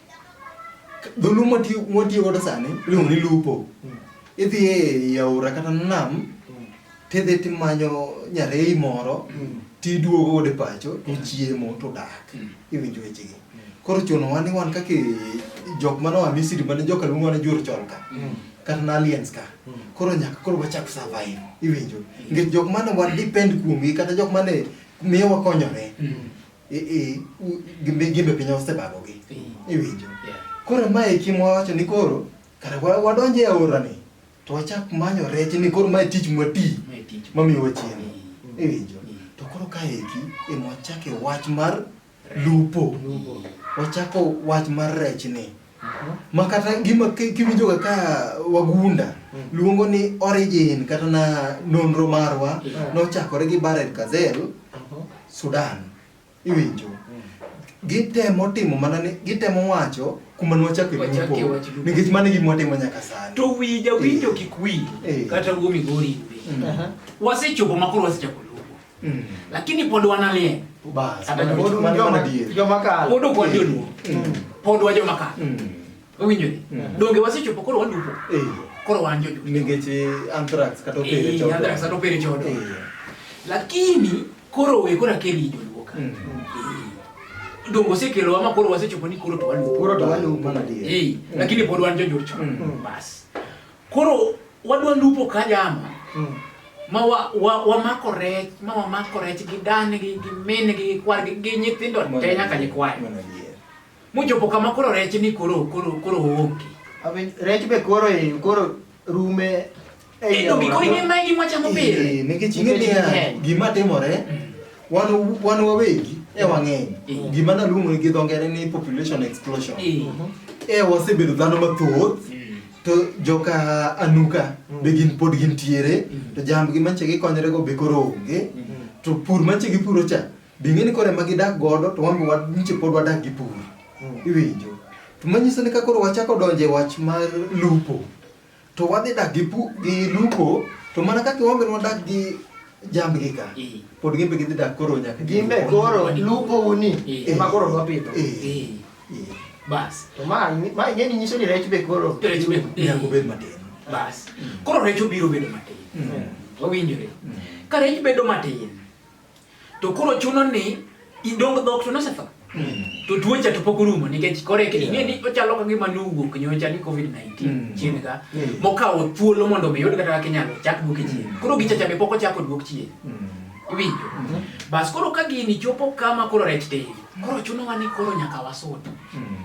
Dholuo mwatiyo godo sani iluongo ni lupo. Hmm. Idhi e aora kata nam hmm. tidhi timanyo nyarei moro hmm. tiduogo godo e pacho tochiemo todak iwinjo wechegi. Koro chunowa ni wan kaka jok mane oa Misri mane joka luongo mane jur chon ka kata na aliens ka koro nyaka koro wachak survive iwinjo nikech jok mane wan depend kuomgi kata jok mane miyo wakonyore gimbe piny osebagogi iwinjo koro mae kimwa wacho ni koro kara wadonj e aorani to wachak manyo rech ni koro mae tich mwati mamiyo wachiemo iwinjo to koro kaeki emwachake wach mar lupo wachako wach mar rech ni ma kata gima kiwinjo kaka wagunda mm. luongo ni origin kata na nonro marwa mm. nochakore gi Barel Kazel mm-hmm. Sudan iwinjo mm. gitemo timo mana ni gitemo wacho kuma nwachako lupo nikech mano gima watimo nyaka sani to wi jawinjo eh. kik wi eh. kata wuo migori wasechopo makoro wasechako Mm. Lakini pod wanalien. Bas. Kata pod un joma dier. Joma kal. Pod ok wan joluo. Mm. Pod wa joma kal. Mm. Owinjo ni. Mm. Donge wasechopo koro walupo. Eh. Koro wan joluo. Nikech eh, anthrax kata opere eh, chodo. Anthrax kata opere chodo. Eh. Lakini koro we kora keri joluo ka. Mm. Donge osekelo ama koro wasechopo ni koro to walupo. Koro to walupo mana dier. Eh. Lakini pod wan joluo. Bas. Koro wadwa lupo ka jama mm. ma wamako wa, wa rech ma wamako rech gi dan gi gi min gi gi kwar gi, gi nyithindo te nyaka nyikwayo muchopo kama koro rech ni koro koro koro onge rech be koro e koro rume Endo gi koro ing'e magi mwachamo pile eh, nikech ing'e niya gima timore mm. wan wan wawegi e wang'eny eh. gima naluongo gi dho ngere ni population explosion eh. e wasebedo dhano mathoth mm. to joka anuka mm. be gin pod gintiere mm. to jambgi manche gikonyore go be koro onge mm. to pur manche gipuro cha be ing'e ni koro ema gidak godo to wan manche pod wadak gi pur iwinjo to manyiso ni ka koro wachako donjo e wach mar lupo to wadhi dak gi lupo to mana kaka wambe wadak gi jambgi ka pod gimbe gidhi dak koro nyaka gimbe koro lupo uni ema koro wapidho Bas. To ma ma ing'eni nyiso ni rech be koro rech be nyako bed matin. Bas. Koro rech obiro bedo matin. Mm. Wawinjore. Mm. Ka rech bedo matin to koro chuno ni idong dhok to nosetho. Mm. To tuocha to pok orumo nikech kore ke ing'e ni ochalo ka gima nowuok nyocha ni COVID-19 chien ka mokawo thuolo mondo mi yud kata kaka inyalo chak duoke chien. Koro gichacha be pok ochako duok chien. Iwinjo. Bas koro ka gini chopo kama koro rech tin. Koro chunowa ni koro nyaka wasud. Hmm.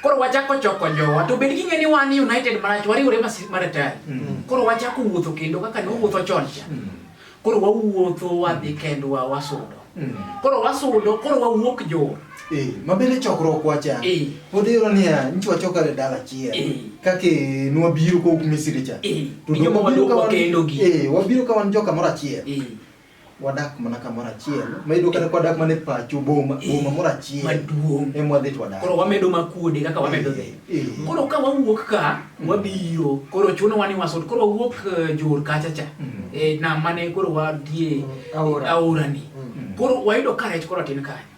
Koro wachako choko jowa to bed ging'e ni wan United marach wariwore maratari. Hmm. Koro wachako wuotho kendo kaka ne wuotho chon cha. Hmm. Koro wawuotho wadhi kendwa wasudo. Koro wasudo koro wawuok jowa. Eh, mabende chokruok wacha eh. odhiro niya nchi wachokare dala achiel eh. kake nwabiro kowuok misri cha wabiro ka wan joka moro achiel wadak mana kamoro achiel ma iyudo kata kwadak mana e pacho boma boma moro achiel maduong' ema wadhi to wadak koro wamedo makuode kaka wamedo dhi eh, eh. koro ka wawuok ka mm. wabiro koro chuno wani wasot koro wawuok eh, jor kacha cha mm. e nam mane koro wadie mm, aora ni koro wayudo ka rech koro tin kanyo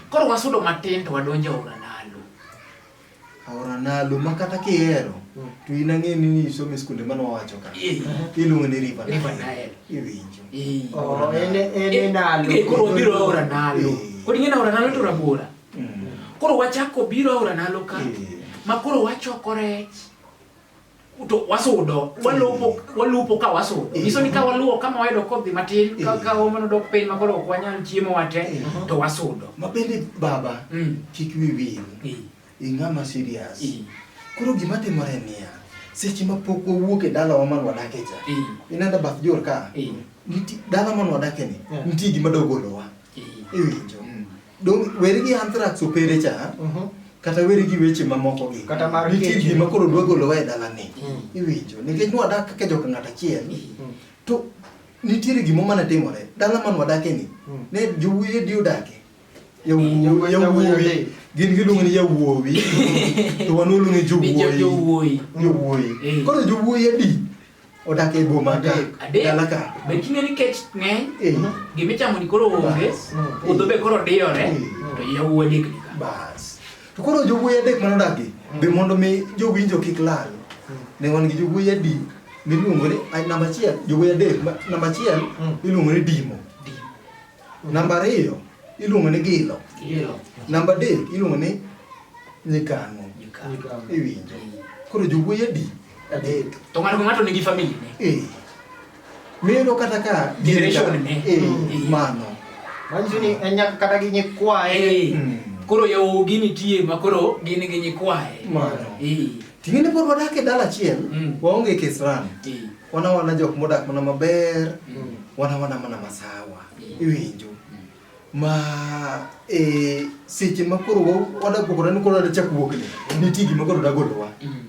koro wasudo matin to wadonjo aora nalo Aora Nalo ma kata kihero mm. to in ang'e ni nisome skunde mane wawacho ka eh. iluongo ni River Nile iwinjo eh. oh, eh, koro wabiro Aora Nalo koro ing'e ni Aora Nalo to rabora mm. koro wachako biro Aora Nalo ka ma koro wachoko rech to wasudo walupo walupo ka wasudo eh. nyiso ni ka waluwo kama wayudo kodhi matin eh. ka ka omano dok piny ma koro ok wanyal chiemo wate eh. to wasudo ma bende baba mm. kik wi wil ing'ama serious koro gima timore niya seche ma pok wawuok e dalawa man wadake cha inenda bath jor ka dala man wadake ni nitie gima dogolowa iwinjo mm. Dong weri gi anthrax opere cha. Uh mhm. -huh. Kata weri gi weche mamoko gi. Kata mar kecho. Nitie gima koro dwa golowa e dalani. Mm. Iwinjo. Nikech nwadak kaka jok ng'at achiel. Mm. To nitiere gimo mana timore. Dala man wadake ni. Mm. Ne jowuoye di odake. Yawuoye. Yawuoye. Gin giluongo ni yawuowi. To wan waluongo ni jowuoyi. Jowuoyi. Jowuoyi. Eh. Koro jowuoyi adi. odak e boma ka dalaka be king'e ni kech ng'eny eh. gimichamo ni koro onge puodho eh. be koro diyore eh. to yawuo adek ni bas to koro jowuoyi adek mane odakgi hmm. be mondo mi jowinjo kik lal hmm. ne wan gi jowuoyi adi miluongo ni namba achiel jowuoyi adek namba achiel hmm. iluongo ni dimo Namba ariyo iluongo ni gilo. Gilo. Namba adek iluongo ni nyikang'o. Nyikang'o. Iwinjo. Koro jowuoyi adi? Adek. To ng'ato ka ng'ato nigi famili ne. Eh. Miyudo kata ka generation ne. Eh, eh. mano. Manyiso ni en nyaka kata gi nyikwaye. Eh. Hmm. Koro yawuogi nitie ma koro gin gi nyikwaye. Mano. Eh. Ting'e pod wadak e dala achiel, hmm. waonge kisirani. Eh. wana wana jok modak mana maber mm. wana wana mana masawa mm. iwinjo ma e seche ma koro wadagogore ni koro adachak wuok ni nitie gima koro dagolowa mm.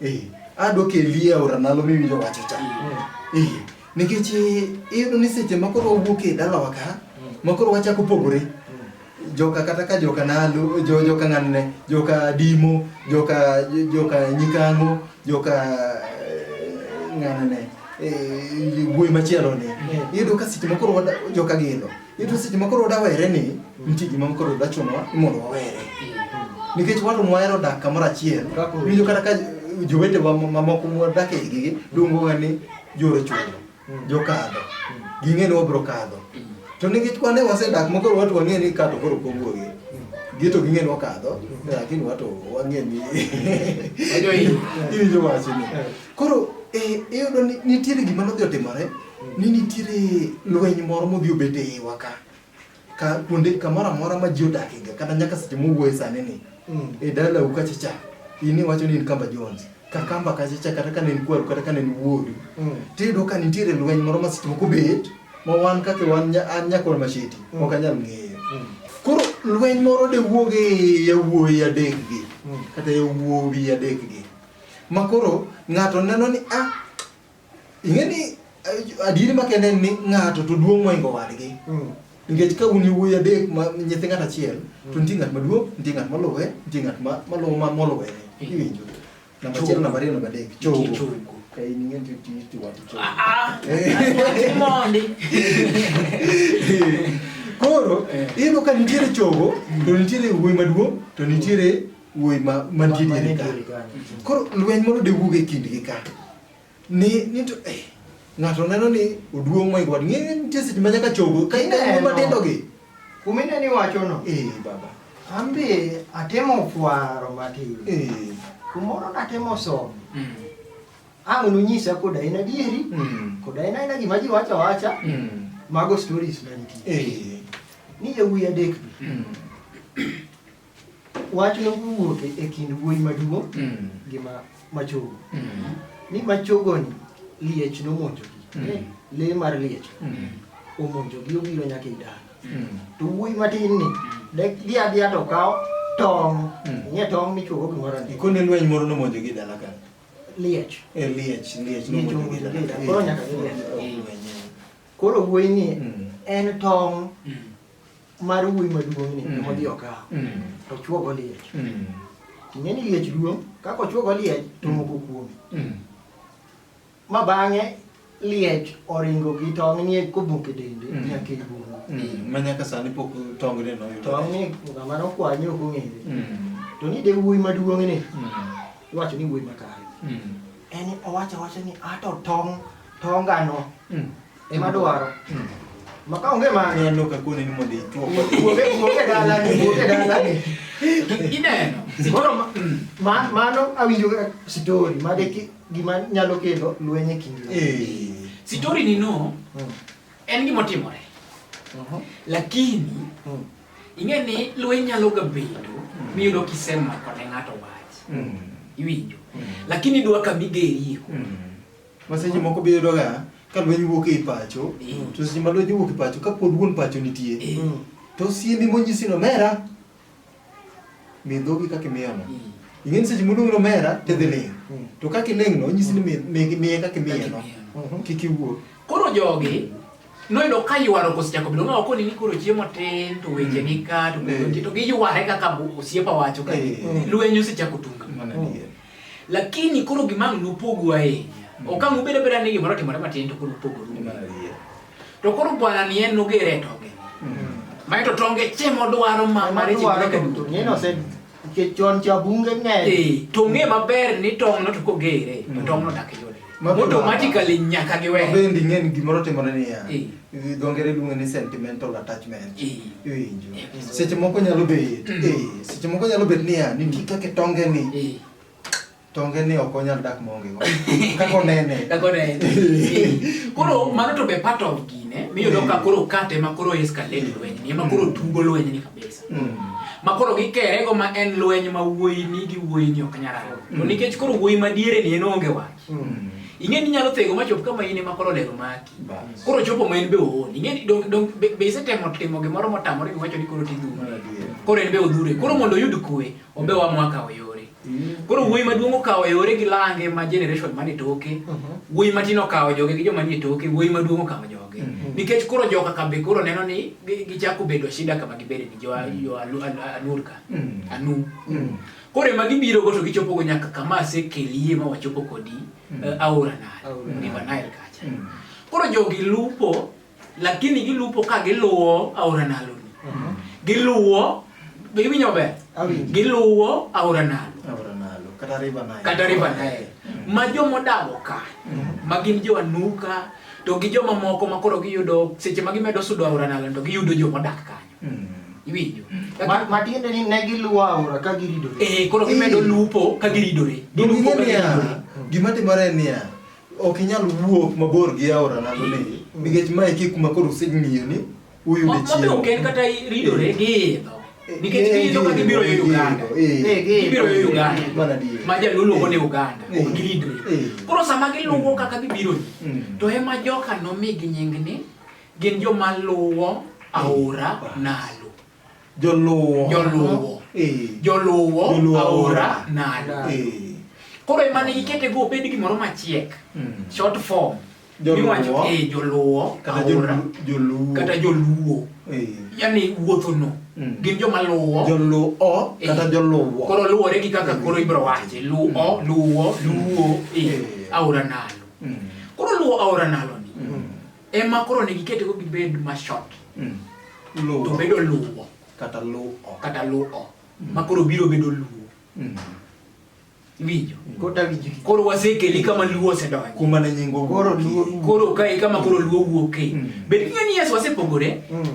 e adwa kelie aora nalo miwinjo wacho cha e nikech e, iyudo ni seche ma koro wawuok e dalawa ka ma koro wachako pogore joka kata ka joka nalo jo joka ng'anne joka dimo joka joka nyikango joka eh, ng'anne eh, wuoyi machielo ni mm. iyudo ka seche makoro joka gino iyudo seche makoro wadawere ni mm. nitie gima makoro dachunwa mondo wawere mm. nikech watu mwahero dak kamoro achiel winjo kata ka jowetewa mamoko mwadak e gigi luongowa ni joro chulo jokadho ging'e ni wabro kadho to nikech kwane wasedak makoro watu wang'e ni kato koro pogwuogi gito ging'e ni wakadho lakini watu wang'e ni iwinjo wachni koro eh, iyudo ni nitiere gima nodhi otimore ni nitiere lweny moro modhi obet e iwa ka ka kuonde kamoro amora ma ji odakiga kata nyaka seche mowuoye sani ni mm. e dalau kachacha in iwacho ni in kamba Jones kakamba kachacha kata ka ne en kwaru kata ka ne en wuoru mm. tiyudo ka nitiere lweny moro ma seche moko bet ma wan kaka wan an nyakol masheti mm. ok anyal ng'eyo koro lweny moro de wuog e yawuoyi adekgi kata yawuowi adekgi ma koro ng'ato neno ni ah Ing'e ni eh, adieri makende en ni ng'ato to duong' moingo wadgi. Mm. Nikech ka un yowuoyi adek ma nyithi ng'at achiel, to nitie ng'at maduong', nitie ng'at maluwe, nitie ng'at ma maluwo ma moluwe. Iwinjo? Namba achiel, namba ariyo, namba adek. Chogo. Chogo. Ka in ing'e ti ti ti wati chogo. Ah, ah, mondi. Koro Eh. iyudo ka nitiere chogo, to nitiere wuoyi maduong', to nitiere wuoyi ma mantie diere ka. Koro lweny moro de wuog e kindgi ka. ni ni to eh ng'ato neno ni oduong' moingo wad ng'e nitie seche ma nyaka chogo ka ineno Ineno. matindo gi Kumine ni wachono. eh baba Ambe atemo fwaro matin. eh Kumoro natemo somo. Mm. Ang' nunyisa kod aina adieri. mm. Kod aina aina gima ji wacho wacha. mm. Mago stories mantie. eh Ni yawuyi adek. mm. Wach nowuok e kind wuoyi maduong' mm. gi machogo. Mm. Ni machogoni liech nomonjogi. Mm. Lee mar liech omonjogi obiro nyaka e dala. To wuoyi matin ni dhi adhiya to kawo tong'. Ing'e tong' michuogo gimoro ni. Ikone lweny moro nomonjogi e dala ka. Liech. E liech, liech nomonjogi e dala. E Koro nyaka gilweny. Koro wuoyi ni en tong' mar wuoyi maduong' ni mm. odhi okawo mm. to chuogo liech mm. ing'e ni liech duong' kaka ochuogo liech to mm. moko kuome mm. ma bang'e liech oringo gi tong' ni kobuk e dende mm. nyaka e bungu mm. ma nyaka sani pok tong' ni noyudo tong' ni ng'ama nokwanye ok ong'ere mm. to ni de wuoyi maduong' ni mm. iwacho ni wuoyi makare mm. en owacho awacha ni ato tong' tongano mm. Ema dwaro. Hmm. Maka onge ma ne no ka kone ni mondo ichuo. Kuoge kuoge dala ni kuoge dala ni. Ineno. Koro hmm. ma mano awinjo story ma de gima nyalo kelo lweny e kind. Eh. Story ni no. Hmm. En gima otimore. Uh-huh. Lakini ing'e ni lweny nyalo ga bedo miyudo kisemako ne ng'ato wach. Iwinjo. Lakini dwa ka migerio. Ma seche moko be iyudoga ka lweny wuok ei pacho, to seche ma lweny owuok e pacho, ka pod wuon pacho nitie, to osiemi monyisi ni omera, mi dhogi kaka imiyono. Ing'e ni seche moluongi ni omera, tidhi ling'. To kaka iling'no, onyisi ni mi- mi- miye kaka imiyeno. Kik iwuo. Koro jogi noyudo ka ywaruok osechako bedo ng'awa koni ni koro chiemo tin to weche ni ka to Eh. to giyware kaka osiepa wacho ka Eh. lweny osechako tunga. Mana adier. Lakini koro gima nupogu ahinya. Mm. Okang' ubed abeda ni gimoro timore matin to koro upogo ru. To koro bwana ni en nogere to ge. Mae to tonge che modwaro ma mare ji mare ka duto. Ng'eno se ke chon cha bunge ng'e. Eh, to ng'e maber ni tong' no to kogere. Mm. Tong' no dak yode. automatically nyaka giwe bendi ng'en gimoro timore niya dho ngere luonge ni sentimental attachment iwinjo seche moko nyalo bet mm. seche moko nyalo bet niya nitie kaka tonge ni tonge ni ok onyal dak maonge go kaka onene kaka onene koro mano to be part of gine miyudo ka koro kate ma koro escalate lweny ni ma koro mm. tugo lweny ni Mm. ma koro gikere go ma en lweny ma wuoyi ni gi wuoyi ni ok nyal ariwo to mm. nikech koro wuoyi ma diere ni en onge wach mm. ing'e ni nyalo thego ma chop kama in ema koro lero maki koro chopo ma en be oon ing'e ni dong dong be isetemo timo gimoro motamore giwacho ni koro tidhuro koro en be odhure koro mondo oyud kwe obe wa mwaka oyo Koro wuoyi maduong' okawo e ore gi lange ma generation mane toke, mhm. wuoyi matin okawo joge gi joma nie toke, wuoyi maduong' okawo joge. Mhm. Nikech koro joka kambe koro neno ni gichako bedo shida kama gibede ni jo mhm. Anurka, Anu. Koro ema gibiro go to gichopo go nyaka kama asekelie ma wachopo kodi eh, aora Nile, River Nile kacha. Koro jogi lupo lakini gilupo ka giluwo aora nalo ni mhm. giluwo giwinjo maber giluwo aora nalo kata river nile mhm. ma joma odago ka mhm. ma gin jo anuka to gi joma moko ma koro giyudo seche ma gimedo sudo aora nalo to giyudo joma odak kanyo iwinjo matiende ni ne giluwo aora ka giridore eh koro gimedo lupo ka giridore gilupo ka giridore gima timore niya Ok inyal wuok mabor gi aora nalo ni nikech ma e kuma koro useng'iyo ni uyude chiemo. Mabe ok en kata ridore gi idho. Eh, nikech eh, giyudo ka gibiro yo Uganda. Eh, gibiro yo Uganda. Mana di. Ma jaluo luongo ni Uganda. Ok giridre. Koro sama giluwo kaka gibiro mm. to ema joka nomigi nying ni gin joma luwo aora nalo. Joluwo. Joluwo. Eh. Joluwo Joluwo aora aora. nalo. Eh. Koro ema ne ikete go obed gimoro machiek. Mm. Short form. Joluwo. Miwacho, eh, joluwo Kata aora. jolu- joluwo. Kata joluwo. Eh. Yani wuothono. Mm. Gin joma luwo. Joluwo kata Eh. joluwo. Koro luwore gi kaka koro ibro wache. Luwo, luwo, luwo. Eh. Eh. Aora nalo. Mm. Koro luwo aora nalo ni. Mm. ema koro ne gikete ko gibed ma short mm. luwo to bedo luwo kata luwo kata luwo mm. ma koro biro bedo luwo mm. winjo mm. kota winjo koro wasekeli kama luwo osedonjo kuma ne nyingo koro luwo koro kai kama koro luwo wuoke mm. bed ni Yesu wasepogore mm.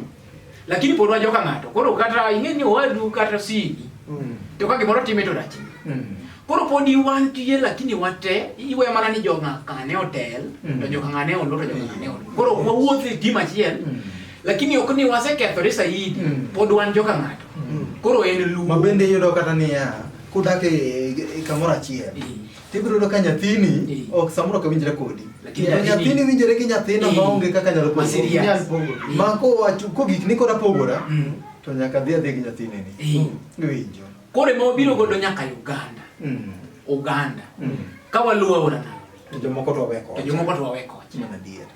Lakini pod wajo ka ng'ato. Koro kata ing'e ni owadu kata sini. Mm. To ka gimoro time to rach. Mm. Koro pod iwan tiye lakini wate iwe mana ni joga kane otel mm. to joga ngane olo to joga ngane olo. Koro mm. wawuothe e tim achiel. Mm. Lakini ok ni wasekethore saidi mm. pod wan joka ng'ato. Mm. Koro en luwo. Mabende yudo kata niya kudak e, e kamoro achiel. Mm. Tibiro yudo ka nyathini Eh. ok samoro ok winjre kodi. Lakini To nyathini- nyathini winjre gi nyathina Eh. maonge kaka nyalo Ma pogo. serious. Inyal pogo. Eh. Ma kowacho ko gik ni kora pogora Mm. to nyaka dhi adhi gi nyathini ni. Eh. Iwinjo. Koro ema wabiro godo nyaka Uganda. Mm. Uganda. Mm. Ka waluwo aora Nile, To jomoko to weko. to jomoko to wawe kocha. Mana adier.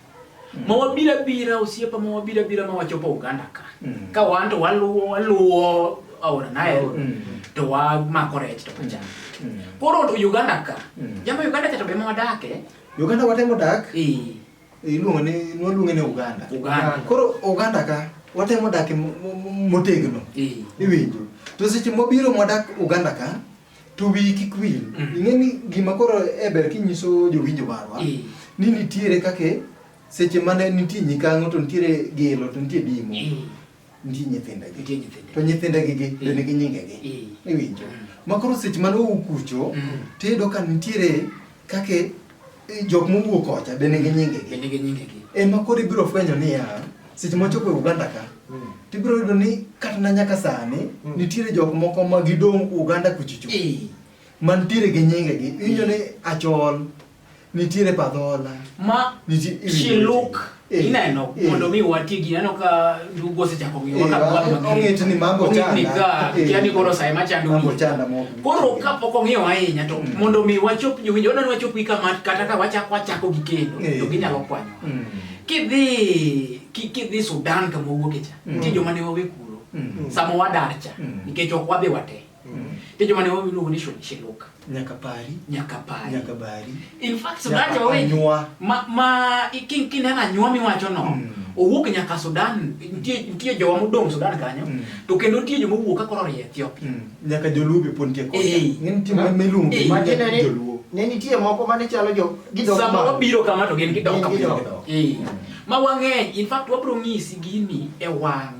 ma wabiro abira osiepa ma wabiro abira ma wachopo Uganda ka mm. ka wan to waluwo waluwo aora Nile mm. to wamako rech to pacham mm. mm. koro to Uganda ka mm. jama Uganda cha to be ma wadake Uganda watemo dak eh iluongo ni nwaluonge ni Uganda Uganda koro Uganda ka watemo dak motegno eh. iwinjo to seche mobiro mwadak Uganda ka to wiyi kik wil mm. ing'e ni gima koro e ber kinyiso jowinjo marwa eh. ni nitiere kake seche mane nitie nyikang'o to nitiere gelo to nitie dimo eh. nitie nyithindegi to nyithindegi gi be eh. nigi nyingegi iwinjo mm. ma koro seche mane owuok kucho mm. tiyudo ka nitiere Kake eh, jok mowuok kocha be nigi nyingegi. Be nigi nyingegi. Ema eh, koro ibiro fwenyo niya, seche mochopo e Uganda ka, mm. tibiro yudo ni kata na nyaka sani, mm. nitiere jok moko ma gidong' Uganda kuchicho. Eh. Mantiere gi nyingegi. Iwinjo ni achol, nitiere padhola. Ma, chiluk. Eh, ineno eh. mondo mi wati gi neno ka dugo se chako mi waka kwa ma ngi ni mambo chana ni ga yani koro sai ma chandu mambo chana mo koro ka poko ngi wa inya to mm. mondo mi wachop ju winjo na wachop ka mat kata ka wacha kwa chako gi kendo eh. to ginyalo kwanyo mm. kidhi ki kidhi Sudan ka mo wuok cha mm. ti jo mane wawe kuro samo wadarcha nikech ok wadhi wate Penjo mane wao iluongo ni Shoncheloka. Nyaka pari. Nyaka pari. Nyaka bari. In fact, Sudan jo wewe. Nyua. Ma ma king king ana nyua mi wacho no. Mm. Owuok nyaka Sudan, nitie nitie jowa modong Sudan kanyo. Mm. To kendo nitie joma wuok ka koro Ethiopia. Mm. Nyaka joluo be pon tie kocha. Hey. Ngin tim ma melum hey. ma gin ne joluo. Ne nitie moko mane chalo jo gidong. Sama wabiro kama to gin gidong kama. Eh. Ma wang'eny, in fact wabro ng'isi gini e wang'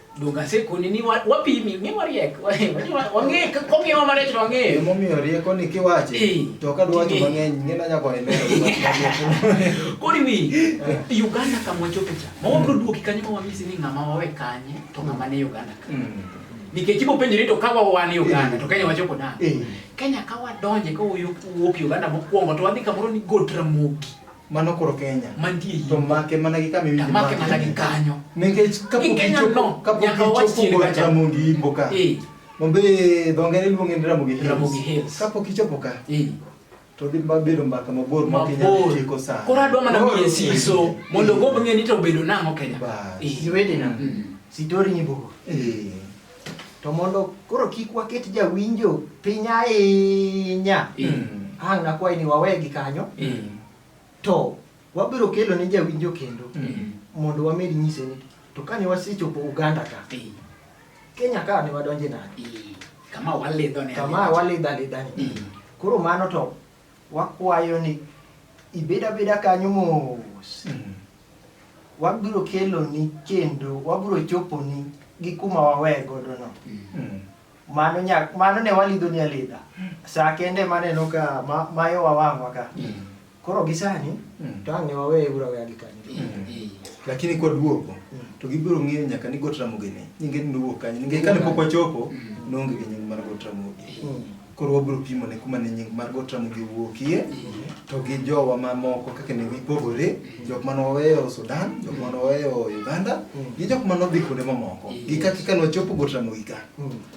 Donge asekoni ni wa- wapimi, ng'e wariek. Wang'e, kong'iewa marech to wang'eyo. Emomiyo rieko ni kiwache Eh. to ka dwacho Eh. mang'eny ng'ina nyaka imero. Koro iwi, Uganda kama wachope cha. Ma wabiro duoki kanyo ma wanyisi ni ng'ama wawe kanye to ng'ama ne Uganda ka. Nikech ibo penjori to ka wawan Uganda to Kenya wachopo nade? Eh. Kenya ka wadonje ka wuok wuok Uganda mokwongo to wadhi kamoro ni Got Ramogi. Mano koro Kenya. Mantie hii. To make mana gi kama iwinjo. Make mana gi kanyo. Nikech kapo kichopo, kapo kichopo go Ramogi Himbo ka. Eh. Mombe dhongere luonge ni Ramogi Hills. Ramogi Hills. Kapo kichopo ka. Eh. To dhi mabedo mbaka mabor ma Kenya tieko sana. Koro adwa mana miye siso mondo go bang'e ni to bedo nang'o Kenya. Ba. Eh. Siwede na. Mm. Sitori ni bogo. Eh. to mondo koro kik waket jawinjo piny ahinya mm. ang' nakwayi ni wawegi kanyo mm. to wabiro kelo ne jawinjo kendo mm. mondo wamed nyise ni to kane wasechopo uganda ka kenya ka ne wadonje nade kama walidho ne kama walidho alidha ni koro mano to Wakwayo ni ibed abeda kanyo mos. Mm. Wabiro keloni kendo wabiro choponi gi kuma wawe godo no. Mm. Mano nyak, mano ne walidho ni alidha. Sa kende maneno ka ma, mayo wawang'wa ka. Mm. Koro gisani mm. to ang'e wawe ura weya gi kanyo. Mm. Mm. Lakini kwa duogo mm. to gibiro ng'eyo nyaka ni got ramogi ni nyinge ni nowuok kanyo. Ninge kane pok wachopo mm. nonge gi nying mar got ramogi. Mm. Koro wabiro pimo ne kuma ne nying mar Got Ramogi owuokie to gi jowa mamoko kaka ne gipogore, jok mane waweyo Sudan, jok mane waweyo Uganda gi jok mane odhi kuonde mamoko. Gi kaka ka nwachopo Got Ramogi ka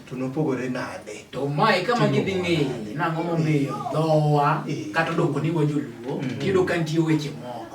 to nopogore nade? To mae kama gidhi ng'eye nang'o momiyo dhowa kata odoko ni wajoluo, tiyudo ka nitie weche moko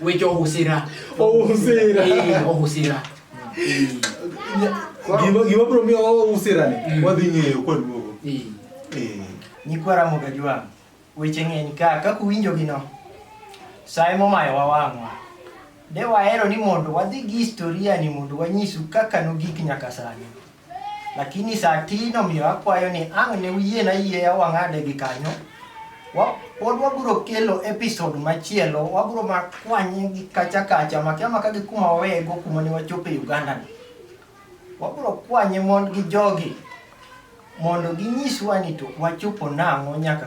Weche ohusira. Ohusira. Eh, ohusira. Eh, Gima gima bro miyo ohusira ni. Mm. Wadhi ng'eyo kwa duogo. eh. Eh. Nyikwa Ramogi Ajwang', weche ng'eny ka kaka uwinjogi no. Sae momayo wawang'wa. De wahero ni mondo wadhi gi historia ni mondo wanyisu kaka nogik nyaka sani. Lakini saa ti nomiyo akwayo ni ang' ne uyie na yieya wang'ade gi kanyo. Wa- Pod wabiro kelo episode machielo, wabiro ma kwanye gi kacha kacha, makia maka gi kuma wawego kuma ne wachopo e Uganda ni. Wabiro kwanye mond gi jogi mondo ginyiswa ni to wachopo nang'o nyaka